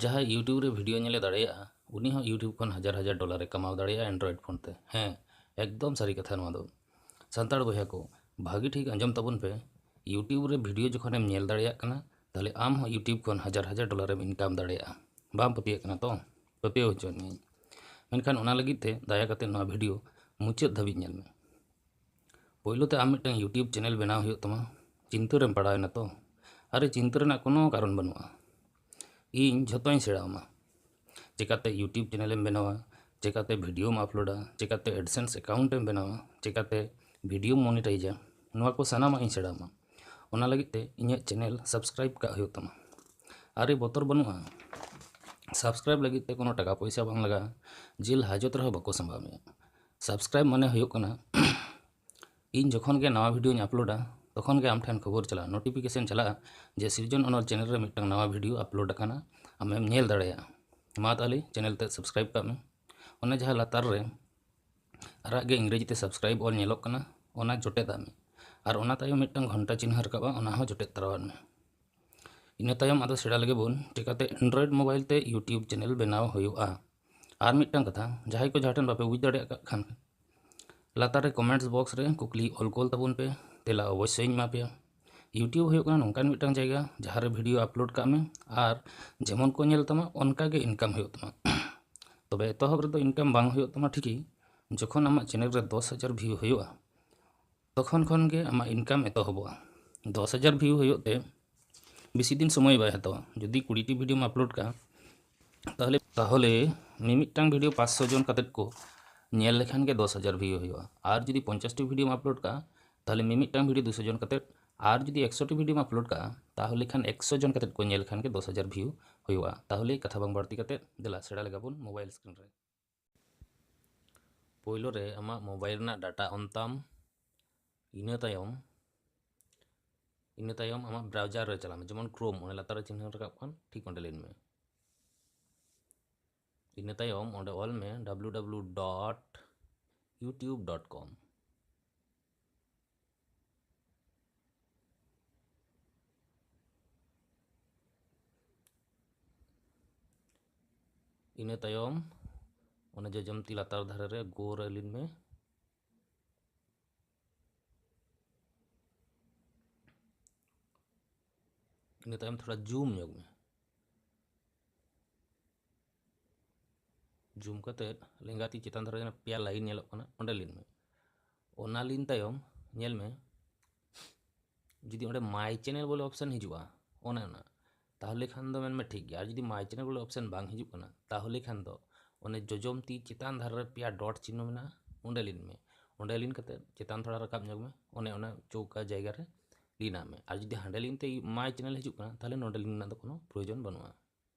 ᱡᱟᱦᱟᱸᱭ ᱤᱭᱩᱴᱤᱭᱩᱵᱽ ᱨᱮ ᱵᱷᱤᱰᱤᱭᱳ ᱧᱮᱞᱮ ᱫᱟᱲᱮᱭᱟᱜᱼᱟ ᱩᱱᱤ ᱦᱚᱸ ᱤᱭᱩᱴᱤᱭᱩᱵᱽ ᱠᱷᱚᱱ ᱦᱟᱡᱟᱨ ᱦᱟᱡᱟᱨ ᱰᱚᱞᱟᱨᱮ ᱠᱟᱢᱟᱣ ᱫᱟᱲᱮᱭᱟᱜᱼᱟ ᱮᱱᱰᱨᱚᱭᱮᱰ ᱯᱷᱳᱱ ᱛᱮ ᱦᱮᱸ ᱮᱠᱫᱚᱢ ᱥᱟᱹᱨᱤ ᱠᱟᱛᱷᱟ ᱱᱚᱣᱟ ᱫᱚ ᱥᱟᱱᱛᱟᱲ ᱵᱚᱭᱦᱟ ᱠᱚ ᱵᱷᱟᱹᱜᱤ ᱴᱷᱤᱠ ᱟᱸᱡᱚᱢ ᱛᱟᱵᱚᱱ ᱯᱮ ᱤᱭᱩᱴᱤᱭᱩᱵᱽ ᱨᱮ ᱵᱷᱤᱰᱤᱭᱳ ᱡᱚᱠᱷᱚᱱᱮᱢ ᱧᱮᱞ ᱫᱟᱲᱮᱭᱟᱜ ᱠᱟᱱᱟ ᱛᱟᱦᱞᱮ ᱟᱢ ᱦᱚᱸ ᱤᱭᱩᱴᱤᱭᱩᱵᱽ ᱠᱷᱚᱱ ᱦᱟᱡᱟᱨ ᱦᱟᱡᱟᱨ ᱰᱚᱞᱟᱨᱮᱢ ᱤᱱᱠᱟᱢ ᱫᱟᱲᱮᱭᱟᱜᱼᱟ ᱵᱟᱢ ᱯᱟᱹᱛᱭᱟᱹᱜ ᱠᱟᱱᱟ ᱛᱚ ᱯᱟᱹᱛᱭᱟᱹᱣ ᱦᱚᱪᱚᱭᱮᱫ ᱢᱤᱭᱟᱹᱧ ᱢᱮᱱᱠᱷᱟᱱ ᱚᱱᱟ ᱞᱟᱹᱜᱤᱫ ᱛᱮ ᱫᱟᱭᱟ ᱠᱟᱛᱮ ᱱᱚᱣᱟ ᱵᱷᱤᱰᱤᱭᱳ ᱢᱩᱪᱟᱹᱫ ᱫᱷᱟᱹᱵᱤᱡ ᱧᱮᱞ ᱢᱮ ᱯᱳᱭᱞᱳ ᱛᱮ ᱟᱢ ᱢᱤᱫᱴᱟᱝ ᱤᱭᱩᱴᱤᱭᱩᱵᱽ ᱪᱮᱱᱮᱞ ᱵᱮᱱᱟᱣ ᱦᱩᱭᱩᱜ ᱛᱟᱢᱟ ᱪᱤᱱᱛᱟᱹ ᱨᱮᱢ ᱯᱟᱲᱟᱣ ᱮᱱᱟ ᱛᱚ ᱟᱨᱮ ᱪᱤᱱᱛᱟᱹ ᱨᱮᱱᱟᱜ ᱠᱳᱱᱳ ᱠᱟᱨᱚᱱ ᱵᱟᱹᱱᱩᱜᱼᱟ ᱤᱧ ᱡᱷᱚᱛᱚᱧ ᱥᱮᱬᱟ ᱟᱢᱟ ᱪᱤᱠᱟᱹᱛᱮ ᱤᱭᱩᱴᱤᱭᱩᱵᱽ ᱪᱮᱱᱮᱞ ᱮᱢ ᱵᱮᱱᱟᱣᱟ ᱪᱤᱠᱟᱹᱛᱮ ᱵᱷᱤᱰᱤᱭᱳᱢ ᱟᱯᱞᱳᱰᱟ ᱪᱤᱠᱟᱹᱛᱮ ᱮᱰᱥᱮᱱᱥ ᱮᱠᱟᱣᱩᱱᱴ ᱮᱢ ᱵᱮᱱᱟᱣᱟ ᱪᱤᱠᱟᱹᱛᱮ ᱵᱷᱤᱰᱤᱭᱳᱢ ᱢᱚᱱᱤᱴᱟᱭᱤᱡᱟ ᱱᱚᱣᱟ ᱠᱚ ᱥᱟᱱᱟᱢᱟᱜ ᱤᱧ ᱥᱮᱬᱟ ᱟᱢᱟ ᱚᱱᱟ ᱞᱟᱹᱜᱤᱫ ᱛᱮ ᱤᱧᱟᱹᱜ ᱪᱮᱱᱮᱞ ᱥᱟᱵᱥᱠᱨᱟᱭᱤᱵᱽ ᱠᱟᱜ ᱦᱩᱭᱩᱜ ᱛᱟᱢᱟ ᱟᱨᱮ ᱵᱚᱛᱚᱨ ᱵᱟᱹᱱᱩᱜᱼᱟ ᱥᱟᱵᱥᱠᱨᱟᱭᱤᱵᱽ ᱞᱟᱹᱜᱤᱫ ᱛᱮ ᱠᱳᱱᱳ ᱴᱟᱠᱟ ᱯᱚᱭᱥᱟ ᱵᱟᱝ ᱞᱟᱜᱟᱜᱼᱟ ᱡᱮᱞ ᱦᱟᱡᱚᱛ ᱨᱮᱦᱚᱸ ᱵᱟᱠᱚ ᱥᱟᱢᱵᱟᱣ ᱢᱮᱭᱟ ᱥᱟᱵᱥᱠᱨᱟᱭᱤᱵᱽ ᱢᱟᱱᱮ ᱦᱩᱭᱩᱜ ᱠᱟᱱᱟ ᱤᱧ ᱡᱚᱠᱷᱚᱱ ᱜᱮ ᱱᱟᱣᱟ ᱵᱷᱤᱰᱤᱭᱳᱧ ᱟᱯᱞᱳᱰᱟ ᱛᱚᱠᱷᱚᱱ ᱜᱮ ᱟᱢ ᱴᱷᱮᱱ ᱠᱷᱚᱵᱚᱨ ᱪᱟᱞᱟᱜᱼᱟ ᱱᱳᱴᱤᱯᱷᱤᱠᱮᱥᱚᱱ ᱪᱟᱞᱟᱜᱼᱟ ᱡᱮ ᱥᱤᱨᱡᱚᱱ ᱚᱱᱚᱞ ᱪᱮᱱᱮᱞ ᱨᱮ ᱢᱤᱫᱴᱟᱝ ᱱᱟᱣᱟ ᱵᱷᱤᱰᱤᱭᱳ ᱟᱯᱞᱳᱰ ᱟᱠᱟᱱᱟ ᱟᱢᱮᱢ ᱧᱮᱞ ᱫᱟᱲᱮᱭᱟᱜᱼᱟ ᱢᱟ ᱛᱟᱦᱚᱞᱮ ᱪᱮᱱᱮᱞ ᱛᱮ ᱥᱟᱵᱥᱠᱨᱟᱭᱤᱵᱽ ᱠᱟᱜ ᱢᱮ ᱚᱱᱟ ᱡᱟᱦᱟᱸ ᱞᱟᱛᱟᱨ ᱨᱮ ᱟᱨᱟᱜ ᱜᱮ ᱤᱝᱨᱮᱡᱤ ᱛᱮ ᱥᱟᱵᱥᱠᱨᱟᱭᱤᱵᱽ ᱚᱞ ᱧᱮᱞᱚᱜ ᱠᱟᱱᱟ ᱚᱱᱟ ᱡᱚᱴᱮᱫᱟᱜ ᱢᱮ ᱟᱨ ᱚᱱᱟ ᱛᱟᱭᱚᱢ ᱢᱤᱫᱴᱟᱝ ᱜᱷᱚᱱᱴᱟ ᱪᱤᱱᱦᱟᱹ ᱨᱟᱠᱟᱵᱼᱟ ᱚᱱᱟ ᱦᱚᱸ ᱡᱚᱴᱮᱫ ᱛᱟᱨᱟᱣᱟᱜ ᱢᱮ ᱤᱱᱟᱹ ᱛᱟᱭᱚᱢ ᱟᱫᱚ ᱥᱮᱬᱟ ᱞᱟᱹᱜᱤᱫ ᱵᱚᱱ ᱪᱤᱠᱟᱹᱛᱮ ᱮᱱᱰᱨᱚᱭᱮᱰ ᱢᱳᱵᱟᱭᱤᱞ ᱛᱮ ᱤᱭᱩᱴᱤᱭᱩᱵᱽ ᱪᱮᱱᱮᱞ ᱵᱮᱱᱟᱣ ᱦᱩᱭᱩᱜᱼᱟ ᱟᱨ ᱢᱤᱫᱴᱟᱝ ᱠᱟᱛᱷᱟ ᱡᱟᱦᱟᱸᱭ ᱠᱚ ᱡᱟᱦᱟᱸ ᱴᱷᱮᱱ ᱵᱟᱯᱮ ᱵᱩᱡᱽ ᱫᱟᱲᱮᱭᱟᱜ ᱠᱟᱜ ᱠᱷᱟᱱ ᱞᱟᱛᱟᱨ ᱨᱮ ᱠᱚᱢᱮᱱᱴᱥ ᱵᱚᱠᱥ ᱨᱮ ᱠᱩᱠᱞᱤ ᱚᱞ ᱠᱳᱞ ᱛᱟᱵᱚᱱ ᱯᱮ ᱛᱮᱞᱟ ᱚᱵᱚᱥᱥᱳᱭᱤᱧ ᱮᱢᱟ ᱯᱮᱭᱟ ᱤᱭᱩᱴᱤᱭᱩᱵᱽ ᱦᱩᱭᱩᱜ ᱠᱟᱱᱟ ᱱᱚᱝᱠᱟᱱ ᱢᱤᱫᱴᱟᱝ ᱡᱟᱭᱜᱟ ᱡᱟᱦᱟᱸ ᱨᱮ ᱵᱷᱤᱰᱤᱭᱳ ᱟᱯᱞᱳᱰ ᱠᱟᱜ ᱢᱮ ᱟᱨ ᱡᱮᱢᱚᱱ ᱠᱚ ᱧᱮᱞ ᱛᱟᱢᱟ ᱚᱱᱠᱟ ᱜᱮ ᱤᱱᱠᱟᱢ ᱦᱩᱭᱩᱜ ᱛᱟᱢᱟ ᱛᱚᱵᱮ ᱮᱛᱚᱦᱚᱵ ᱨᱮᱫᱚ ᱤᱱᱠᱟᱢ ᱵᱟᱝ ᱦᱩᱭᱩᱜ ᱛᱟᱢᱟ ᱴᱷᱤᱠᱤ ᱡᱚᱠᱷᱚᱱ ᱟᱢᱟᱜ ᱪᱮᱱᱮᱞ ᱨᱮ ᱫᱚᱥ ᱦᱟᱡᱟᱨ ᱵᱷᱤᱭᱩ ᱦᱩᱭᱩᱜᱼᱟ ᱛᱚᱠᱷᱚᱱ ᱠᱷᱚᱱ ᱜᱮ ᱟᱢᱟᱜ ᱤᱱᱠᱟᱢ ᱮᱛᱚᱦᱚᱵᱚᱜᱼᱟ ᱫᱚᱥ ᱦᱟᱡᱟᱨ ᱵᱷᱤᱭᱩ ᱦᱩᱭᱩᱜ ᱛᱮ ᱵᱮᱥᱤ ᱫᱤᱱ ᱥᱚᱢᱚᱭ ᱵᱟᱭ ᱦᱟᱛᱟᱣᱟ ᱡᱩᱫᱤ ᱠᱩᱲᱤᱴᱤ ᱵᱷᱤᱰᱤᱭᱳᱢ ᱟᱯᱞᱳᱰ ᱠᱟᱜᱼᱟ ᱛᱟᱦᱚᱞᱮ ᱛᱟᱦᱚᱞᱮ ᱢᱤᱢᱤᱫᱴᱟᱝ ᱵᱷᱤᱰᱤᱭᱳ ᱯᱟᱸᱪᱥᱚ ᱡᱚᱱ ᱠᱟᱛᱮᱫ ᱠᱚ ᱧᱮᱞ ᱞᱮᱠᱷᱟᱱ ᱜᱮ ᱫᱚᱥ ᱦᱟᱡᱟᱨ ᱵᱷᱤᱭᱩ ᱦᱩᱭᱩᱜᱼᱟ ᱟᱨ ᱡᱩᱫᱤ ᱯᱚᱧᱪᱟᱥᱴᱤ ᱵᱷᱤᱰᱤᱭᱳᱢ ᱟᱯᱞᱳᱰ ᱠᱟᱜᱼᱟ ᱛᱟᱦᱚᱞᱮ ᱢᱤᱢᱤᱫᱴᱟᱝ ᱵᱷᱤᱰᱤᱭᱳ ᱫᱩᱥᱚ ᱡᱚᱱ ᱠᱟᱛᱮᱫ ᱟᱨ ᱡᱩᱫᱤ ᱮᱠᱥᱚᱴᱤ ᱵᱷᱤᱰᱤᱭᱳᱢ ᱟᱯᱞᱳᱰ ᱠᱟᱜᱼᱟ ᱛᱟᱦᱚᱞᱮ ᱠᱷᱟᱱ ᱮᱠᱥᱚ ᱡᱚᱱ ᱠᱟᱛᱮᱫ ᱠᱚ ᱧᱮᱞ ᱠᱷᱟᱱ ᱜᱮ ᱫᱚᱥ ᱦᱟᱡᱟᱨ ᱵᱷᱤᱭᱩ ᱦᱩᱭᱩᱜᱼᱟ ᱛᱟᱦᱚᱞᱮ ᱠᱟᱛᱷᱟ ᱵᱟᱝ ᱵᱟᱹᱲᱛᱤ ᱠᱟᱛᱮᱫ ᱫᱮᱞᱟ ᱥᱮᱬᱟ ᱞᱮᱜᱟᱵᱚᱱ ᱢᱳᱵᱟᱭᱤᱞ ᱥᱠᱨᱤᱱ ᱨᱮ ᱯᱳᱭᱞᱳ ᱨᱮ ᱟᱢᱟᱜ ᱢᱳᱵᱟᱭᱤᱞ ᱨᱮᱱᱟᱜ ᱰᱟᱴᱟ ᱚᱱ ᱛᱟᱢ ᱤᱱᱟᱹ ᱛᱟᱭᱚᱢ ᱤᱱᱟᱹ ᱛᱟᱭᱚᱢ ᱟᱢᱟᱜ ᱵᱨᱟᱣᱡᱟᱨ ᱨᱮ ᱪᱟᱞᱟᱜ ᱢᱮ ᱡᱮᱢᱚᱱ ᱠᱨᱳᱢ ᱚᱱᱮ ᱞᱟᱛᱟᱨ ᱨᱮ ᱪᱤᱱᱦᱟᱹ ᱨᱟᱠᱟᱵ ᱠᱟᱱ ᱴᱷᱤᱠ ᱚᱸᱰᱮ ᱞᱤᱱ ᱢᱮ ᱤᱱᱟᱹ ᱛᱟᱭᱚᱢ ᱚᱸᱰᱮ ᱚᱞ ᱢᱮ W W dot YouTube dot com ᱤᱱᱟᱹ ᱛᱟᱭᱚᱢ ᱚᱱᱟ ᱡᱚᱡᱚᱢ ᱛᱤ ᱞᱟᱛᱟᱨ ᱫᱷᱟᱨᱮ ᱨᱮ ᱜᱳᱨ ᱟᱹᱞᱤᱱ ᱢᱮ ᱤᱱᱟᱹ ᱛᱟᱭᱚᱢ ᱛᱷᱚᱲᱟ ᱡᱩᱢ ᱧᱚᱜ ᱢᱮ ᱡᱩᱢ ᱠᱟᱛᱮᱫ ᱞᱮᱸᱜᱟ ᱛᱤ ᱪᱮᱛᱟᱱ ᱫᱷᱟᱨᱮ ᱯᱮᱭᱟ ᱞᱟᱭᱤᱱ ᱧᱮᱞᱚᱜ ᱠᱟᱱᱟ ᱚᱸᱰᱮ ᱞᱤᱱ ᱢᱮ ᱚᱱᱟ ᱞᱤᱱ ᱛᱟᱭᱚᱢ ᱧᱮᱞ ᱢᱮ ᱡᱩᱫᱤ ᱚᱸᱰᱮ ᱢᱟᱭ ᱪᱮᱱᱮᱞ ᱵᱚᱞᱮ ᱚᱯᱥᱮᱱ ᱦᱤᱡᱩᱜᱼᱟ ᱚᱱᱮ ᱚᱱᱟ ᱛᱟᱦᱚᱞᱮ ᱠᱷᱟᱱ ᱫᱚ ᱢᱮᱱᱢᱮ ᱴᱷᱤᱠ ᱜᱮᱭᱟ ᱟᱨ ᱡᱩᱫᱤ ᱢᱟᱭ ᱪᱮᱱᱮᱞ ᱵᱚᱞᱮ ᱚᱯᱥᱮᱱ ᱵᱟᱝ ᱦᱤᱡᱩᱜ ᱠᱟᱱᱟ ᱛᱟᱦᱚᱞᱮ ᱠᱷᱟᱱ ᱫᱚ ᱚᱱᱮ ᱡᱚᱡᱚᱢ ᱛᱤ ᱪᱮᱛᱟᱱ ᱫᱷᱟᱨᱮ ᱨᱮ ᱯᱮᱭᱟ ᱰᱚᱴ ᱪᱤᱱᱦᱚ ᱢᱮᱱᱟᱜᱼᱟ ᱚᱸᱰᱮ ᱞᱤᱱ ᱢᱮ ᱚᱸᱰᱮ ᱞᱤᱱ ᱠᱟᱛᱮᱫ ᱪᱮᱛᱟᱱ ᱛᱷᱚᱲᱟ ᱨᱟᱠᱟᱵ ᱧᱚᱜ ᱢᱮ ᱚᱱᱮ ᱚᱱᱟ ᱪᱚᱣᱠᱟ ᱡᱟᱭᱜᱟ ᱨᱮ ᱞᱤᱱᱟᱜ ᱢᱮ ᱟᱨ ᱡᱩᱫᱤ ᱦᱟᱸᱰᱮ ᱞᱤᱱ ᱛᱮ ᱢᱟᱭ ᱪᱮᱱᱮᱞ ᱦᱤᱡᱩᱜ ᱠᱟᱱᱟ ᱛᱟᱦᱚᱞᱮ ᱱᱚᱸᱰᱮ ᱞᱤᱱ ᱨᱮᱱᱟᱜ ᱫᱚ ᱠᱳᱱᱳ ᱯᱨᱚᱭᱳᱡᱚᱱ ᱵᱟᱹᱱᱩᱜᱼᱟ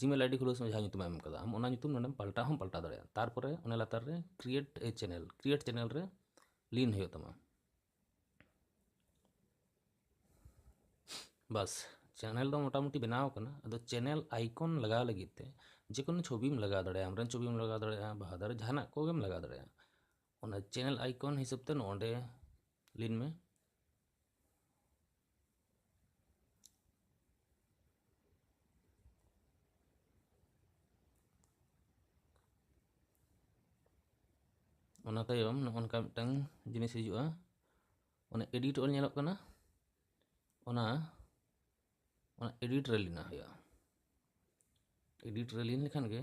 ᱡᱤᱢᱮᱞ ᱟᱭᱰᱤ ᱠᱷᱩᱞᱟᱹᱣ ᱥᱚᱢᱚᱭ ᱡᱟᱦᱟᱸ ᱧᱩᱛᱩᱢ ᱮᱢ ᱠᱟᱫᱟ ᱟᱢ ᱚᱱᱟ ᱧᱩᱛᱩᱢ ᱱᱚᱰᱮᱢ ᱯᱟᱞᱴᱟᱣ ᱦᱚᱸᱢ ᱯᱟᱞᱴᱟᱣ ᱫᱟᱲᱮᱭᱟᱜᱼᱟ ᱛᱟᱨᱯᱚᱨᱮ ᱚᱱᱟ ᱞᱟᱛᱟᱨ ᱨᱮ ᱠᱨᱤᱭᱮᱴ ᱮ ᱪᱮᱱᱮᱞ ᱠᱨᱤᱭᱮᱴ ᱪᱮᱱᱮᱞ ᱨᱮ ᱞᱤᱱ ᱦᱩᱭᱩᱜ ᱛᱟᱢᱟ ᱵᱟᱥ ᱪᱮᱱᱮᱞ ᱫᱚ ᱢᱚᱴᱟᱢᱩᱴᱤ ᱵᱮᱱᱟᱣ ᱟᱠᱟᱱᱟ ᱟᱫᱚ ᱪᱮᱱᱮᱞ ᱟᱭᱠᱚᱱ ᱞᱟᱜᱟᱣ ᱞᱟᱹᱜᱤᱫ ᱛᱮ ᱡᱮ ᱠᱳᱱᱳ ᱪᱷᱚᱵᱤᱢ ᱞᱟᱜᱟᱣ ᱫᱟᱲᱮᱭᱟᱜᱼᱟ ᱟᱢᱨᱮᱱ ᱪᱷᱚᱵᱤᱢ ᱞᱟᱜᱟᱣ ᱫᱟᱲᱮᱭᱟᱜᱼᱟ ᱵᱟᱦᱟ ᱫᱟᱨᱮ ᱡᱟᱦᱟᱱᱟᱜ ᱠᱚᱜᱮᱢ ᱞᱟᱜᱟᱣ ᱫᱟᱲᱮᱭᱟᱜᱼᱟ ᱚᱱᱟ ᱪᱮᱱᱮᱞ ᱟᱭᱠᱚᱱ ᱦᱤᱥᱟᱹᱵ ᱛᱮ ᱱᱚᱰᱮ ᱞᱤᱱ ᱢᱮ ᱚᱱᱟ ᱛᱟᱭᱚᱢ ᱱᱚᱜᱼᱚ ᱱᱚᱝᱠᱟ ᱢᱤᱫᱴᱟᱝ ᱡᱤᱱᱤᱥ ᱦᱤᱡᱩᱜᱼᱟ ᱚᱱᱟ ᱮᱰᱤᱴ ᱚᱞ ᱧᱮᱞᱚᱜ ᱠᱟᱱᱟ ᱚᱱᱟ ᱚᱱᱟ ᱮᱰᱤᱴ ᱨᱮ ᱞᱤᱱᱟ ᱦᱩᱭᱩᱜᱼᱟ ᱮᱰᱤᱴ ᱨᱮ ᱞᱤᱱ ᱞᱮᱠᱷᱟᱱ ᱜᱮ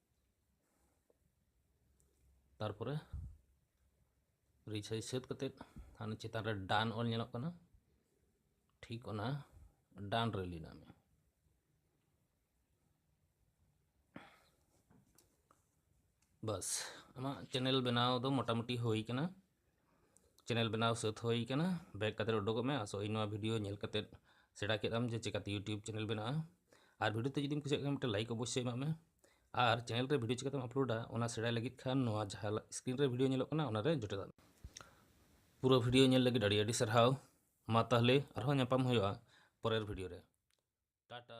ᱛᱟᱨᱯᱚᱨᱮ ᱨᱤᱥᱟᱨᱪ ᱥᱟᱹᱛ ᱠᱟᱛᱮᱫ ᱦᱟᱱᱮ ᱪᱮᱛᱟᱱ ᱨᱮ ᱰᱟᱱ ᱚᱞ ᱧᱮᱞᱚᱜ ᱠᱟᱱᱟ ᱴᱷᱤᱠ ᱚᱱᱟ ᱰᱟᱱ ᱨᱮ ᱞᱤᱱᱟ ᱢᱮ ᱵᱟᱥ ᱟᱢᱟᱜ ᱪᱮᱱᱮᱞ ᱵᱮᱱᱟᱣ ᱫᱚ ᱢᱚᱴᱟᱢᱩᱴᱤ ᱦᱩᱭ ᱠᱟᱱᱟ ᱪᱮᱱᱮᱞ ᱵᱮᱱᱟᱣ ᱥᱟᱹᱛ ᱦᱩᱭ ᱠᱟᱱᱟ ᱵᱮᱠ ᱠᱟᱛᱮ ᱩᱰᱩᱠᱚᱜ ᱢᱮ ᱟᱥᱚᱜ ᱤᱧ ᱱᱚᱣᱟ ᱵᱷᱤᱰᱤᱭᱳ ᱧᱮᱞ ᱠᱟᱛᱮ ᱥᱮᱬᱟ ᱠᱮᱫ ᱟᱢ ᱡᱮ ᱪᱮᱠᱟᱛᱮ ᱤᱭᱩᱴᱤᱭᱩᱵᱽ ᱪᱮᱱᱮᱞ ᱵᱮᱱᱟᱜᱼᱟ ᱟᱨ ᱵᱷᱤᱰᱤᱭᱳ ᱛᱮ ᱡᱩᱫᱤᱢ ᱠᱩᱥᱤᱭᱟᱜ ᱠᱷᱟᱱ ᱢᱤᱫᱴᱮᱱ ᱞᱟᱭᱤᱠ ᱚᱵᱚᱥᱥᱳᱭ ᱮᱢᱟᱜ ᱢᱮ ᱟᱨ ᱪᱮᱱᱮᱞ ᱨᱮ ᱵᱷᱤᱰᱤᱭᱳ ᱪᱮᱠᱟᱛᱮᱢ ᱟᱯᱞᱳᱰᱟ ᱚᱱᱟ ᱥᱮᱬᱟᱭ ᱞᱟᱹᱜᱤᱫ ᱠᱷᱟᱱ ᱱᱚᱣᱟ ᱡᱟᱦᱟᱸ ᱥᱠᱨᱤᱱ ᱨᱮ ᱵᱷᱤᱰᱤᱭᱳ ᱧᱮᱞᱚᱜ ᱠᱟᱱᱟ ᱚᱱᱟᱨᱮ ᱡᱚᱴᱮᱫ ᱟᱢ ᱯᱩᱨᱟᱹ ᱵᱷᱤᱰᱤᱭᱳ ᱧᱮᱞ ᱞᱟᱹᱜᱤᱫ ᱟᱹᱰᱤ ᱟᱹᱰᱤ ᱥᱟᱨᱦᱟᱣ ᱢᱟ ᱛᱟᱦᱞᱮ ᱟᱨᱦᱚᱸ ᱧᱟᱯᱟᱢ ᱦᱩᱭᱩᱜᱼᱟ ᱯᱚᱨᱮᱨ ᱵᱷᱤᱰᱤᱭᱳ ᱨᱮ ᱴᱟᱴᱟ